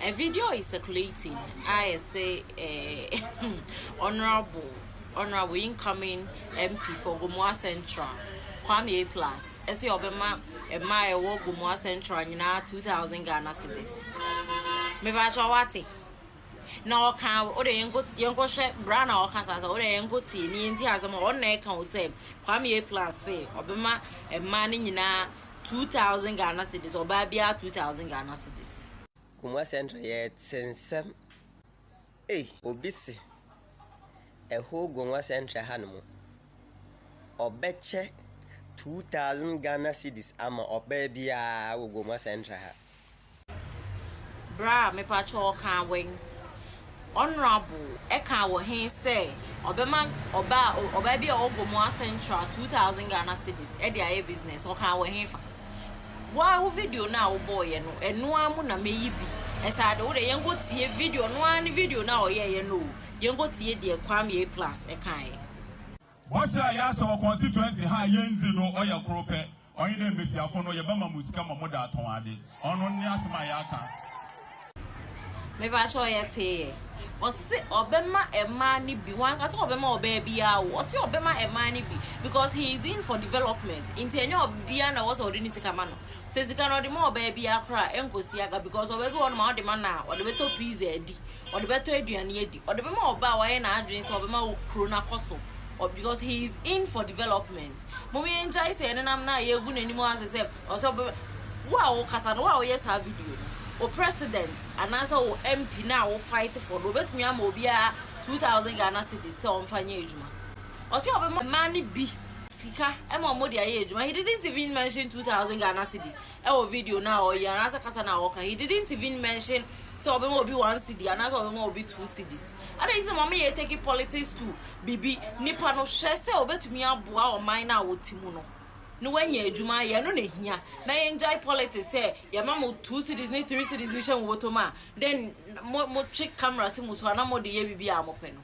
A video is circulating a ɛsɛ eh, honorable honorable incoming MP for Gomoa Central Kwame A Plus ɛsɛ ɔbɛma ɛma ɛwɔ Gomoa Central nyinaa 2000 Ghana cedis mebakyɛ wate na ɔka ɔde yɛnkɔhwɛ bra na ɔka saa sɛ ɔde yɛnkɔtie ne yɛnti asɛm a ɔnna ɛka wo sɛ Kwame A Plus se ɔbɛma ɛma no nyinaa two thousand Ghana cedis, ɔbaa biara two thousand Ghana cedis. Kumua Central yɛte nsɛm ei. Obi se ɛho Gongua Central ha nom ɔbɛkyɛ two thousand Ghana cedis ama ɔbaa biara wɔ Gongua Central ha. Bra a mepakyɛ wo ɔkaa wɛn. Honourable ɛkaa wɔ he sɛ ɔbɛma ɔbaa ɔbaa bi a ɔwɔ Gomoa central two thousand Ghana cedis ɛde ayɛ business ɔkaa wɔ he fa? Woa wo video no a wobɔɔyɛ no ɛno ara mu na meyi bi ɛsɛ ade wode yɛnkɔ tie video no ara ne video no a ɔyɛɛyɛ no o yɛnkɔ tie deɛ Kwame A plus ɛkaeɛ. Bɔhyɛ a yɛahyɛ wɔ constituency ha a yendzi no ɔyɛ kor pɛ, ɔnye dɛ mbasiafo no yɛbɛma mo sika ma wɔdze atɔn adze. Ɔno nye asɛm a yɛakã. Mepakyɛw yɛtsee yɛ? Ɔse ɔbɛma mmaa no bi, wanka sɛ ɔbɛma ɔbaa biara o, ɔse ɔbɛma mmaa no bi because he is in for development nti ɛnyɛ ɔbaa na ɛwɔ sɛ ɔde ne sika ma no, sɛ sika no ɔde ma ɔbaa biara koraa a ɛnkɔsi aga because ɔbaa bi wɔ hɔnom a ɔde ma no a ɔde bɛtɔ pizza adi, ɔde bɛtɔ aduane adi, ɔde bɛma ɔba a wayɛ n'adwene sɛ ɔbɛma kuro no akɔ so because he is in for development. Mom yɛn gyae sɛ yɛne nam na yɛgu n'anim ase sɛ ɔsɛ ɔbɛ wo a wokasa no wo a woyɛ saa video no wo president anaasɛ wo MP na wo fight for no obetumi ama obiara 2000 Ghana cedis sɛ ɔmfa nyɛ adwuma. Ɔsɛ ɔbɛma mmaa no bi sika ɛma wɔn de ayɛ adwuma he didn't even mention 2000 Ghana cedis ɛwɔ video no a ɔyɛ anaasɛ kasa no a ɔka he didn't even mention sɛ ɔbɛma obi one cedi anaasɛ ɔbɛma obi two cedis ɛna yi sɛ mama yɛ take politics to bibi nipa no hwɛ sɛ ɔbɛtumi aboa ɔman no a wɔte mu no na wanya adwuma ayɛ ɛno na ehia na yɛngyae politics sɛ yɛma mo two cedis ne three cedis bi hyɛ mo bɔtɔ mu a then mo mo twe camera si mo so ana mo de yɛ bibi a mo pɛ no